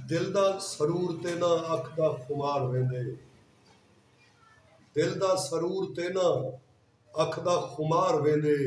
دل دا سرور تیناں اکھ دا خمار ویندے دل دا سرور تیناں اکھ دا خمار ویندے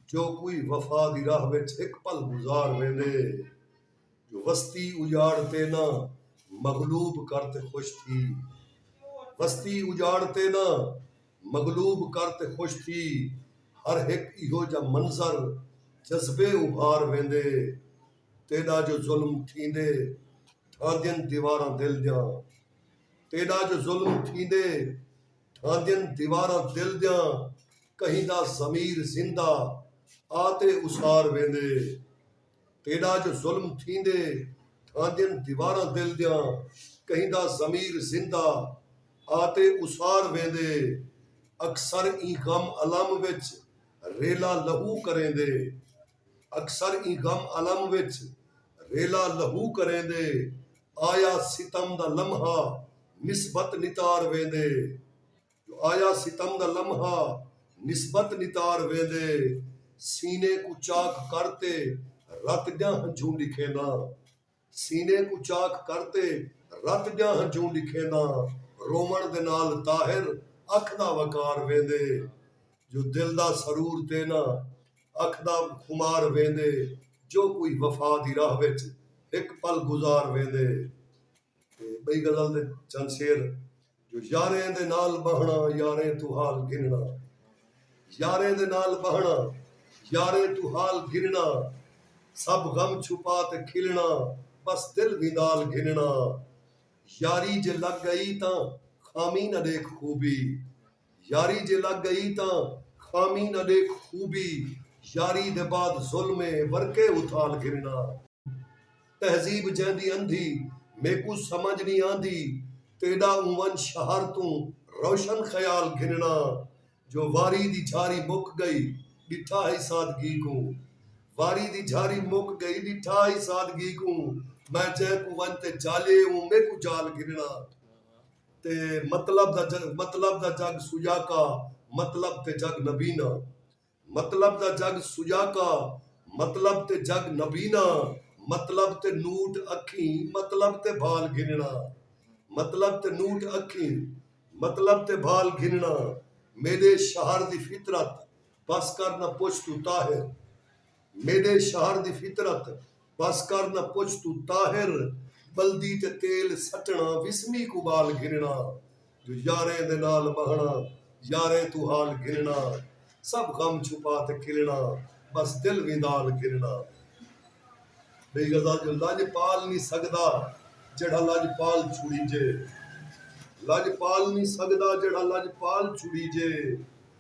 جو کوئی وفا دی راہ وچ ہک پل گزار ویندے جو وستی اجاڑ تیناں مغلوب کر تے خوش تھی وستی اجاڑ تیناں مغلوب کر تے خوش تھی ہر ہک ایہو جا منظر جذبے ابھار ویندے تیݙا جو ظلم تھیندے ڈھاندین دیواراں دل دیاں تیݙا جو ظلم تھیندے ڈھاندین دیواراں دل دیاں کہیں دا ضمیر زندہ آ تے اسار ویندے تیݙا جو ظلم تھیندے ڈھاندین دیواراں دل دیاں کہیں دا ضمیر زندہ آ تے اسار ویندے اکثر ایں غم الم وچ ریلا لہو کریندے۔ اکثر ایں غم الم وچ ریلا لہو کریندے آیا ستم دا لمحہ نسبت نتار ویندے جو آیا ستم دا لمحہ نسبت نتار ویندے سینے کوں چاک کر تے رت ڄاں ہنجھوں ݙکھینداں سینے کوں چاک کر تے رت دیاں ہنجوں ڈکھینداں رووݨ دے نال طاہر اکھ دا وقار ویندے جو دل دا سرور تینا اکھ دا خمار ویندے جو کوئی وفا دی راہ وچ ہک پل گزار ویندے تے ٻئی غزل دے چند شعر۔ جو یاریں دے نال ٻہݨا یاریں توں حال گھنݨا یاریں دے نال ٻہݨا یاریں توں حال گھنݨا سب غم چھپا تے کھلݨا ٻس دل وی نال گھنݨا یاری جے لڳ ڳئی تاں خامی نہ ݙیکھ خوبی یاری جے لڳ ڳئی تاں خامی نہ ݙیکھ خوبی یاری دے بعد ظلم اے ورکے اوں تھال گھنݨا۔ تہذیب جیندی اندھی میکوں سمجھ نی آندی تیڈا اونونج شہر توں روشن خیال گھننڑاں جو واری دی جھاری مک گئی ڈٹھا ہئی سادگی کوں واری دی جھاری مک گئی ڈٹھا ہئی سادگی کوں میں جئیں کوں ونج تے جالے اوں میکوں جال گھننڑاں تے مطلب دا مطلب دا جگ سجاکا مطلب تے جگ نبینا مطلب دا جڳ سجاکا مطلب تے جڳ نبینا مطلب تے نوٹ اکھیں مطلب تے بھال گھنݨا مطلب تے نوٹ اکھیں مطلب تے بھال گھنݨا میݙے شہر دی فطرت بس کر نہ پچھ توں طاہر میݙے شہر دی فطرت بس کر نہ پچھ توں طاہر بلدی تے تیل سٹݨا وسمی کوں ٻال گھنݨا جو یاریں دے نال ٻہݨا یاریں توں حال گھنݨا سب غم چھپا تے کھلݨا بس دل ویندال گھنݨا۔ ٻئی غزل جو لڄ پال نی سڳدا جیڑھا لڄ پال چھوڑیجے لڄ پال نی سڳدا جیڑھا لڄ پال چھوڑیجے۔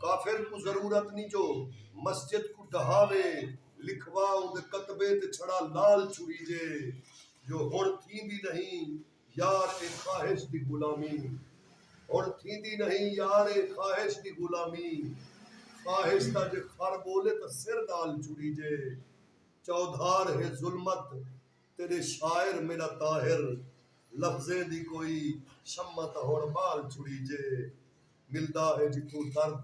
کافر کوں ضرورت نی جو مسجد کوں ڈہاوے لکھوا اوندے کتبے تے چھڑا لال چھوہیجے جو ہنڑ تھیندی نہیں یار اے خواہش دی غلامی ہنڑ تھیندی نہیں یار اے خواہش دی غلامی خواہش دا جے خر بولے تاں سر نال چھوہیجے چودھار ہے ظلمت تیݙے شاعر میݙا طاہر لفظیں دی کوئی شمع تاں ہݨ ٻال چھڑیجے ملدا ہے جتھوں درد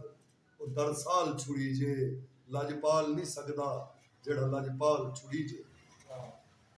او درد سال چھڑیجے لڄ پال نی سڳدا جیڑھا لڄ پال چھڑیجے۔